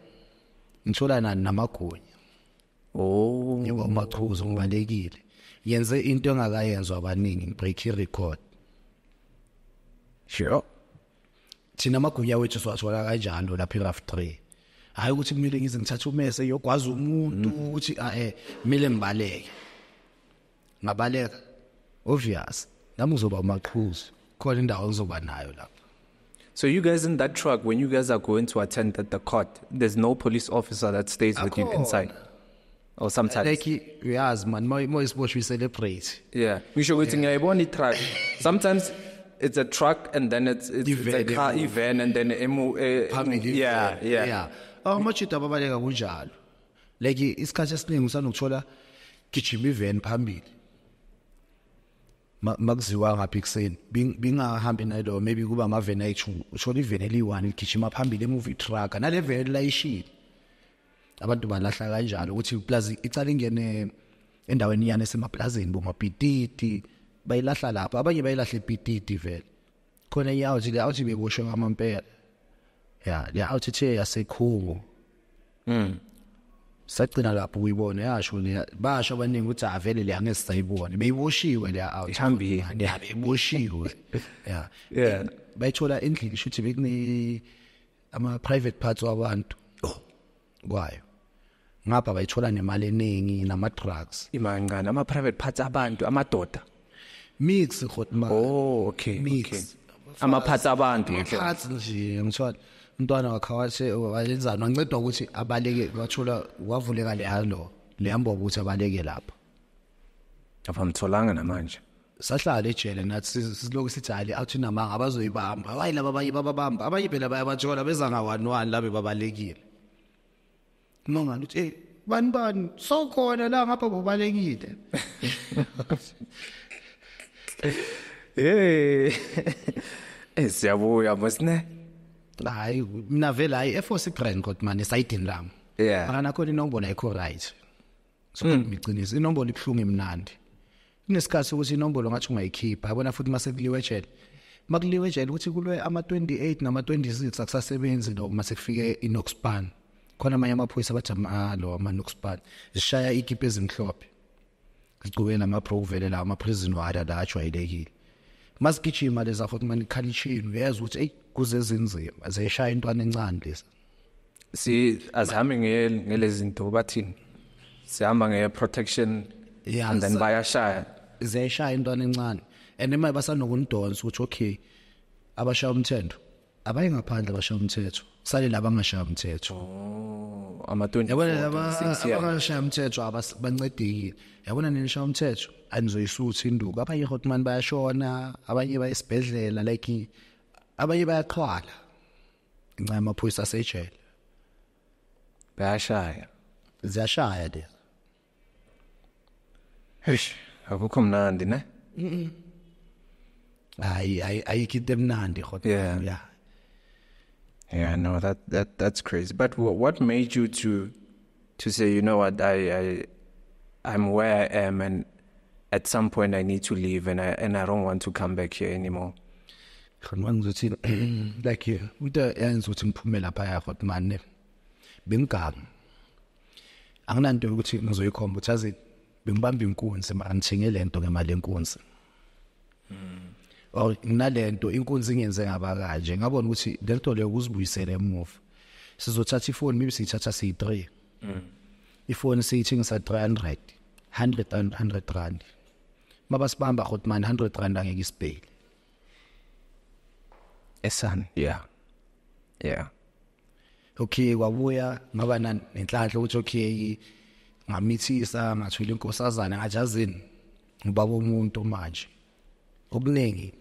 ngithola nani namagunya oh ngoba machuzo ngibalekile yenze into engakayenzwa abaningi break record sure thina amagunya wethu siwathola kanjalo lapha eRaf 3 hayi ukuthi kumele ngize ngithathe umese yogwaza umuntu mm. ukuthi ah, eh kumele ngibaleke ngabaleka obvious nami uzoba umaqhuzu khona indawo ngizoba nayo lapha So you guys in that truck, when you guys are going to attend the, the court, there's no police officer that stays with you inside. or sometimes like uyazi man uma isiboshwe celebrate yeah ngisho ukuthi ngiyayibona i-truck sometimes it's a truck and then it's it's, it's a car event and then emu eh, yeah yeah yeah oh machida babaleka kunjalo like isikhathi esiningi usanokuthola gijima ivan phambili makuziwa ngapha ekuseni bingahambi nalo maybe kuba amaveni ayi-two uthole iveni eliyi-one ligijima phambili emuva itrucka nale veni layishile abantu balahla kanjalo ukuthi iplazi icala ingene endaweni yani esemaplazini bomapititi bayilahla lapho abanye bayilahla ipititi vele khona iyawuthi le awuthi beboshe ngamampela ya le awuthi the yasekhungu mm sagcina lapho uyibona yasho le basho abaningi ukuthi avele ah, le angeke sayibone beyiboshiwe le awuthi ihambile ya beyiboshiwe ya bayithola endlini shuthi bekune ama private parts wabantu oh kwayo ngapha bayithola nemali eningi nama drugs imancane ama private parts abantu amadoda mix khotma oh okay mix okay. ama parts abantu ngihle parts nje ngithola umntwana wakhe wathi wayenzani wancedwa ukuthi abaleke wathola wavuleka lehalo lehamba ukuthi abaleke lapha abamtholanga namanje sahlala ejele nathi siloku sithi hali awuthi namanga abazoyibamba hayi laba abanye bababamba abanye phela bayabajola beza ngawani wani labe babalekile mangani uthi eh bani bani sokhona la ngapha bobalekile eh eh siyabuya mosne hayi mina vele hayi efose ibrand kodwa manje sayidini lami yeah akanakhona inobona ikho right sokhuluma hmm. iqiniso inombolo ibuhlungu imnandi kunesikhathi sokuthi inombolo ngathi ungayikhipha yabona futhi uma sekuliwe ejele uma kuliwe ejele ukuthi kulwe ama-28 nama-26 akusasebenzi lo uma sekufike inoxpan khona amanye amaphoyisa abathi amalo ah, amanoxpan zishaya ikipa ezimhlophe zigcube namabro kuvele lawo ama-prison wada la ajwayelekile masigijima leza futhi manikhalishini uyezwa ukuthi eyi kuze zinzima zeshaya intwana encane lezi si azihambe ngelezi zinto bathini sihamba nge protection yeah, and then bayashaya ziyashaya intwana encane and imali basanokundonsa ukuthi okay abashaya umthetho abaye ngaphandle abashaya umthetho sale laba ngashaya umthetho oh, ama 20 yabona laba abangashaya umthetho abancedekile yabona nini shaya umthetho anizoyisuthi induku abanye hotman bayashona abanye bayesibhedlela like abanye bayaqhwala ngenxa yamaphoyisa asejele bayashaya ziyashaya de eish akukho mnandi ne hayi hayi ayikho into emnandi khona Yeah. yeah yeah no that that that's crazy but wha- what made you to to say you know what i i i'm where i am and at some point i need to leave and i and i don't want to come back here anymore khona ngizothi like you into yenza ukuthi ngiphume lapha ya hot man bengigamu anginanto ukuthi ngizoyikhomba ukuthi azi bengibamba inkunzi manje ngithenge lento ngemali enkunzi mm. or nalento inkunzi ingenze ngaba kanje ngabona ukuthi lento leyo kuzibuyisele emuva sizothatha ifoni maybe siyithatha siyi 3 mm. ifoni siyithengisa 300 100 and 100 rand mabasibamba khot man 100 rand angeke isibhele esani yeah yeah okay kwabuya ngaba nenhlanhla ukuthi okay ngamithisa ngathola inkosazana ngajazini ngibaba umuntu manje okuningi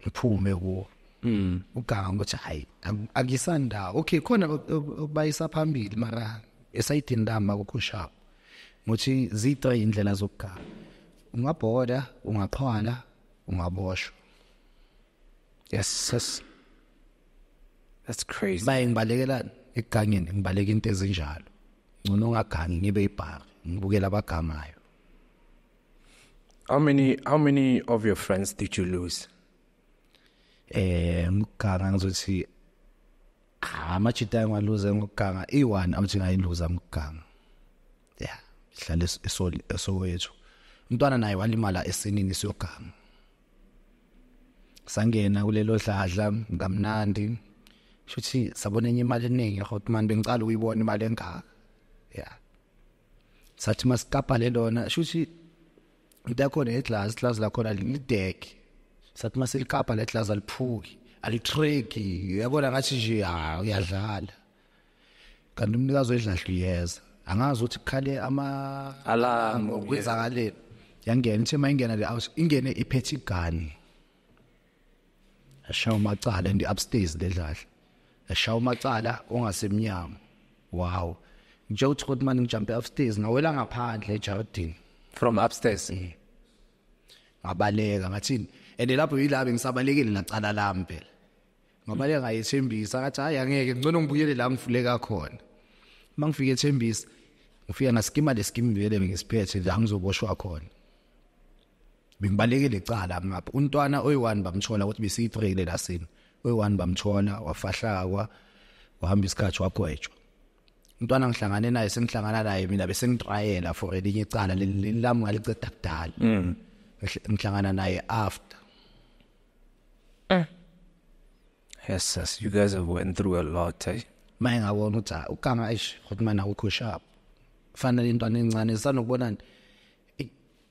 ngiphume kuwo mm uganga ukuthi hayi akisanda okay khona okubayisa phambili mara esayidini lami akukhushapo ngothi zitho indlela zokuganga ungabhoda ungaqhwala ungaboshwa yes yes that's crazy baye ngibalekela egangeni ngibaleka into ezinjalo ngcono ngagangi ngibe ibhari ngibukela abagamayo How many how many of your friends did you lose? Eh ngiganga ngizothi ah, amachita engaluze ngokuganga i1 awuthi ngayiluza ngokuganga. Yeah, ihlale esoli esowethu. Umntwana naye walimala esinini siyoganga. Sangena kulelo dladla ngamnandi. Shuthi sabona enye imali eningi hotman bengicala uyibona imali engaka. Yeah. sathi masikapa le lona shuthi into yakhona yeglass glass lakhona lideke sathi masilikapa le glass aliphuki alitreki uyabona ngathi nje ha uyadlala kanti umnikazi wedlahla uyeza angazi ukuthi kukhale ama alarm okwenzakaleni yangena ithe mayingena le house ingene iphethe igani ashaya umacala and upstairs ledlahla ashaya umacala ongasemnyango wow nje uthi kodwa manje ngijumpe upstairs ngawela ngaphandle ejardini from upstairs eh. ngabaleka ngathini and lapho yilabo ngisabalekile nacala lami phela ngabaleka ngayethembisa ngathi hayi angeke ngcono ngibuyele la ngifuleka khona mangifike ethembisa ngifika ngasikima lesikimi vele ngisiphethe la ngizoboshwa khona bengibalekile icala ngapha untwana oyi-one bamthola ukuthi besiyi-three-ke la sini oyi-one bamthola wafahlakwa wahamba isikhathi wagwetshwa umntwana ngihlangane naye sengihlangana naye mina bese ngitrayela for elinye icala lami ngaliceda kudala mm. ngihlangana naye after eh. yes yes you guys have went through a lot eh? maye ngabona ukuthi ah, ukanga eish ukuthi mana ukho sharp fanele intwana encane sanokubonani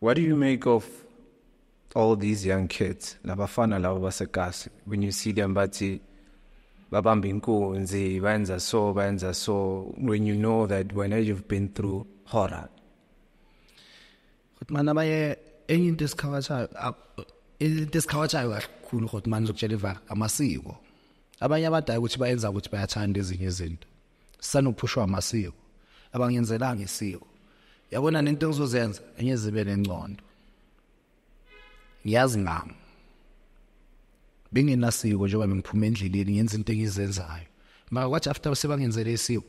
What do you make of all these young kids labafana labo basekasi when you see them bathi babamba inkunzi bayenza so bayenza so when you know that when you've been through horror kodwa mana baye enye into esikhawatshayo into esikhawatshayo kakhulu kodwa manje ukutshela iva amasiko abanye abadala ukuthi bayenza ukuthi bayathanda ezinye izinto sanophushwa amasiko abangenzelanga isiko yabona nento engizozenza enyezibe nencondo ngiyazi ngami bengenasiko njengoba bengiphuma endleleni ngenza into engizenzayo maka kwathi after sebangenzele isiko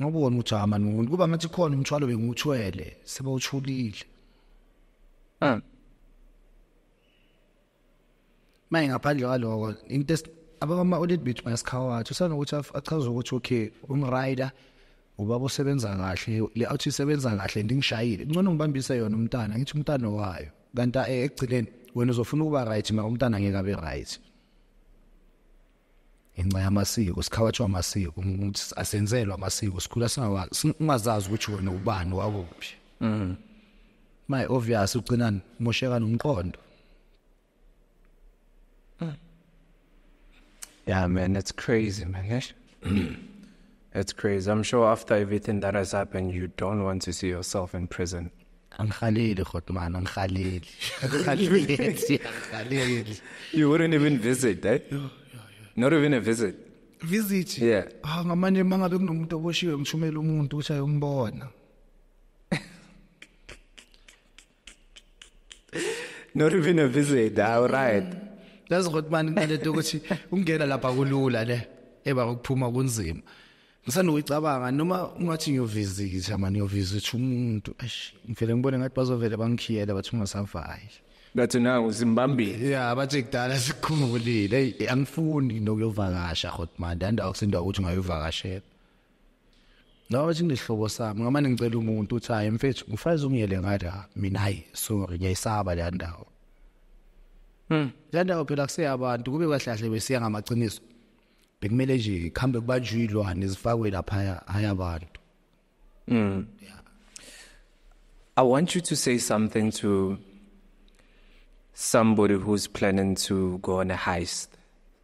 ngobona ukuthi amani umuntu kuba ngathi khona umthwalo bengiwuthwele sebawuthulile ah Maye ngaphandle kwaloko into abama audit bethu mayasikhawathi usanokuthi achaza ukuthi okay umrider ubaba usebenza kahle le athi isebenza kahle ndingishayile ngcono ngibambise yona umntana ngithi umntana wayo kanti eh, ekugcineni wena uzofuna ukuba right ma umntana ngeke abe right inxa yamasiko sikhawatshwa amasiko ukuthi asenzelwa amasiko sikhula singawazi ungazazi ukuthi wena ubani wakuphi mhm my obvious ugcina mosheka nomqondo mm. yeah man that's crazy man It's crazy. I'm sure after everything that has happened, you don't want to see yourself in prison. angikhaleli kodwa mani angikhaleli angikhaleli angikhaleli you wouldn't even visit eh not even a visit visit yeah ah ngamanje mangabe kunomuntu oboshiwe ngishumela umuntu ukuthi ayombona not even a visit all ah, right lazi ukuthi mani kunalento ukuthi ungena lapha kulula le eba ukuphuma kunzima ngisanoyicabanga noma ungathi ngiyovisitha mani ngiyovisitha umuntu eish ngivele ngibone ngathi bazovele bangikhiyele bathi ungasavali ngathi na uzimbambile ya bathi kudala sikhumulile angifuni nokuyovakasha hot man ndandawo kusindwa ukuthi ngayovakashela No bathi ngisihlobo sami ngamane ngicela umuntu uthi hayi mfethu ngifaze ungiyele ngathi ha mina hayi sorry ngiyayisaba le ndawo. Mm. Le ndawo phela kuseyabantu kube kwahlahle besiya ngamaqiniso. Bekumele nje ikhambe kubanjwe ilwane zifakwe lapha hayi abantu. Mm. Yeah. I want you to say something to somebody who's planning to go on a heist.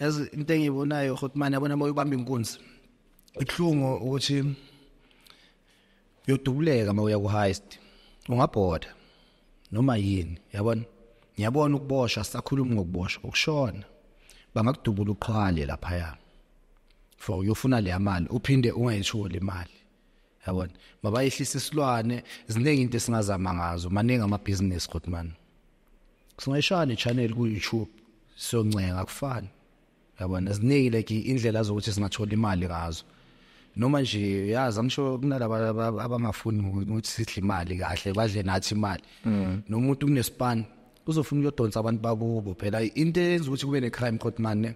yazi into engiyibonayo hotman yabona uma uyibamba inkunzi ibuhlungu ukuthi uyodubuleka uma uya ku-heist ungabhoda noma yini yabona ngiyabona ukuboshwa sakhuluma ngokuboshwa ukushona bangakudubula uqhwale laphaya for uyofuna leya mali uphinde ungayitholi imali yabona mabayehlisa isilwane ziningi into esingazama ngazo maningi amabhizinisi kodwa mani singayishaya le channel ku YouTube siyoncenga kufani yabona ziningi like indlela zokuthi singathola imali ngazo noma nje yazi angisho kunalaba abangafuni ukuthi sidle imali kahle badle nathi imali mm. nomuntu kunespan uzofuna uyodonsa abantu bakubo phela into eyenza ukuthi kube ne crime court man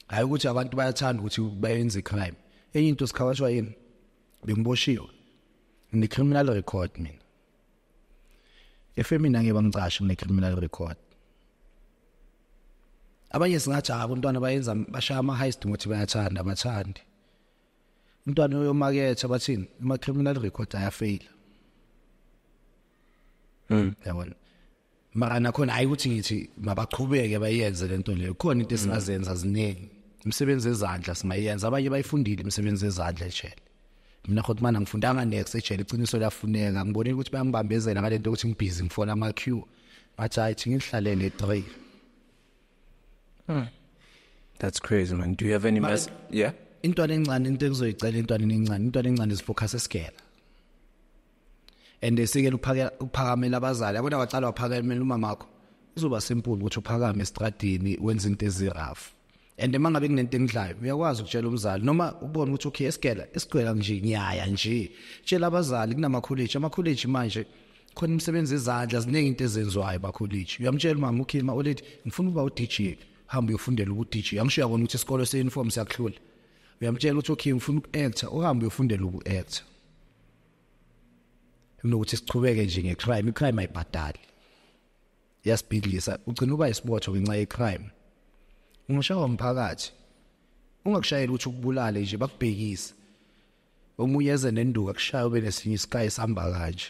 hayi ukuthi abantu bayathanda ukuthi bayenze crime enye into sikhawashwa yini bengiboshiwe ne criminal record mina efemini angeke bangicashi kune criminal record abanye singathi hayi abantwana bayenza bashaya ama high street ngothi bayathanda abathandi umntwana uyomaketha bathini ama criminal record ayafeyila mm yabona mara nakhona hayi ukuthi ngithi mabaqhubeke bayenze lento leyo khona into esingazenza ziningi imisebenzi yezandla singayenza abanye bayifundile imisebenzi yezandla ejele mina khothi mana ngifundanga next ejele iqiniso liyafuneka ngibonile ukuthi bayangibambezela ngalento ukuthi ngibhizi ngifona ama queue bathi hayi thi ngihlalele 3 hmm. that's crazy man do you have any mess yeah intwana encane into ekuzoyicela intwana encane intwana encane is focus esigela and esikele ukuphakamela abazali yabona wacala waphakamela umama wakho izoba simple ukuthi uphakame estradini wenze into ezirafu and uma ngabe kunento engidlayo uyakwazi ukutshela umzali noma ubone ukuthi okay esigela esigcwela nje ngiyaya nje tshela abazali kunamakholeji amakholeji manje khona imisebenzi ezandla ziningi into ezenziwayo bakholeji uyamtshela umama ukhima olethi ngifuna ukuba u-dj hamba uyofundela ubu-dj angisho uyabona ukuthi isikole se-uniform siyakuhlula uyamtshela ukuthi okay ngifuna uku-actor uhambe uyofundela uku-actor kunokuthi siqhubeke nje ngecrime icrime ayibhadali yasibhidlisa ugcina uba isibotho ngenxa yecrime ungashawa umphakathi ungakushayeli ukuthi ukubulale nje bakubhekise omunye eze nenduka kushaya ube nesinye isikayi sihamba kanje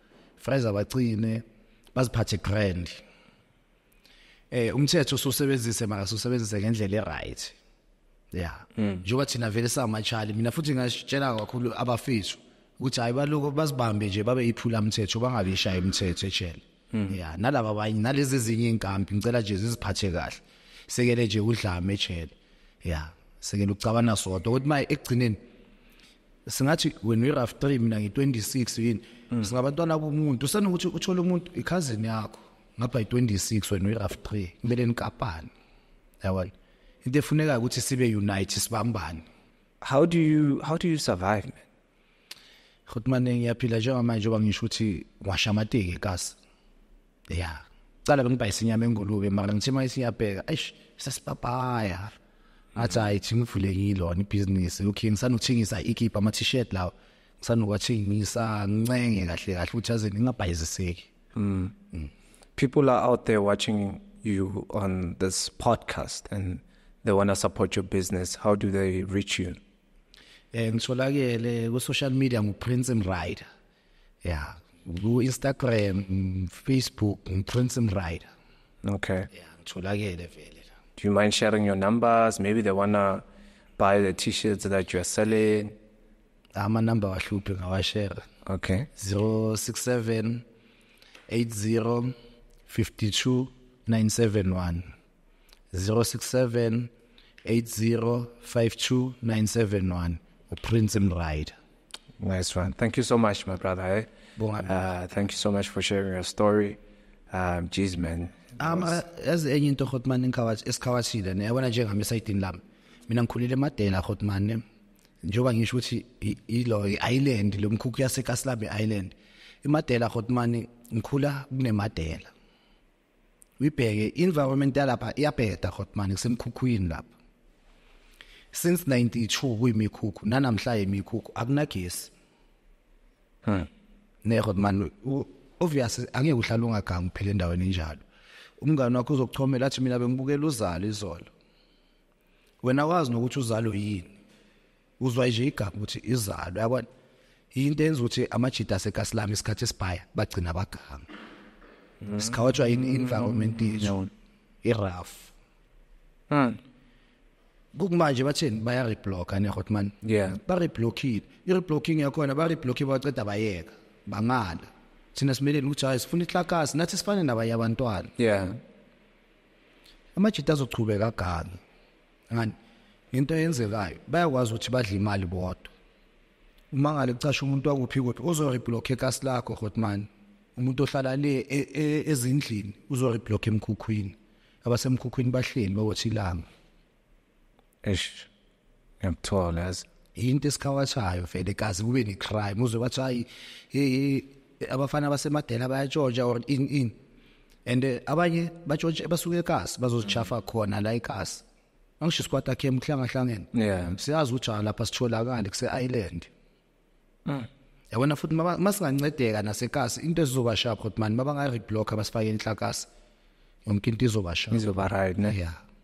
Fraser bacine baziphathe grand eh umthetho ususebenzise maka ususebenzise ngendlela eright yeah mm. njengoba thina vele samachali mina futhi ngasitshela kakhulu abafethu ukuthi hayi baloko bazibambe nje babe iphula umthetho bangabe ishaya umthetho ejele mm. yeah nalabo abanye nalezi ezinye inkampi ngicela nje ziziphathe kahle sekele nje udlame ejele yeah sekele ucabana sodwa ukuthi maye ekugcineni singathi when we rough 3 mina ngi 26 yini mm. singabantwana bomuntu senokuthi uthola umuntu i cousin yakho ngapha i 26 when we rough 3 kumele nikapane yabona into efuneka ukuthi sibe unite sibambane how do you how do you survive man Khotmane ngiyaphila njengamanje njengoba ngisho ukuthi washamateke kasi ya cala bengibhayisa inyama engulube mara ngithe uma isiyabheka eish sasipapaya athi hayi thi ngivule yilona ibhizinisi okay ngisanothengisa ikipa ama-t-shirt lawa ngisanokuwathengisa ngincenge kahle kahle ukuthi aze ngingabhayiziseki mm. mm. people are out there watching you on this podcast and they want to support your business how do they reach you um ngitholakele ku-social media nguprince mrider yeah ku Instagram Facebook Prince and Rider okay yeah ngitholakele vele la do you mind sharing your numbers maybe they wanna buy the t-shirts that you're selling ama number wahluphe ngawashare okay 067 80 52 971 067 8052971 uPrince Mrider nice one thank you so much my brother eh? uh, thank you so much for sharing your story um jeez man um uh, as enye into Hotman inkawathi esikhawashile ne yabona njengami esayidini lami mina ngikhulile emadela Hotman ne njengoba ngisho ukuthi ilo island lomkhukhu yaseKaslabe Island imadela Hotman ngikhula kunemadela uyibheke environment yalapha iyabheda khotmani kusemkhukhwini lapha since 92 kuyimikhukhu nanamhla yimikhukhu akunagesi hmm. ne khotmani obvious angeke uhlala ungagangi phela endaweni enjalo umngane wakho uzokuchomela athi mina bengibukela uzalo izolo wena wazi nokuthi uzalo yini uzwa nje igama ukuthi izalo yabona into enza ukuthi amajita asekasilami isikhathi esibhaya bagcina abaganga mm. sikhawatshwa in environment yethu iraf mm. kukumanje bathini baya reblocka ne hot man yeah ba reblockile i reblocking yakhona ba reblocki baceda bayeka bangala thina simeleni ukuthi hayi sifuna ihlakasi nathi sifane nabanye abantwana yeah amajita azochubeka ganga ngani into eyenzekayo bayakwazi ukuthi badle imali bodwa uma ngale kucasha umuntu wakuphi kuphi uzoreblock ecast lakho hotman umuntu ohlala le e, e, ezindlini uzoreblock emkhukhwini abasemkhukhwini bahleli bawothi ilanga eish ngiyakuthola yazi yinto esikhawathayo vele kazi kube ne-crime uze wathi hayi abafana basemadela bayatshontsha or in in and eh, abanye batshontshe basuke ekasi bazozishafa khona la ekasi angisho isikwati akhe emhlangahlangene yeah siyazi ukuthi ah, lapha sitholakale kuse island mm. yabona futhi masingancedeka nasekasi into ezizoba sharp ukuthi mani mabangayi reblock abasifake inhlakasi yonke into izoba sharp izoba right ne yeah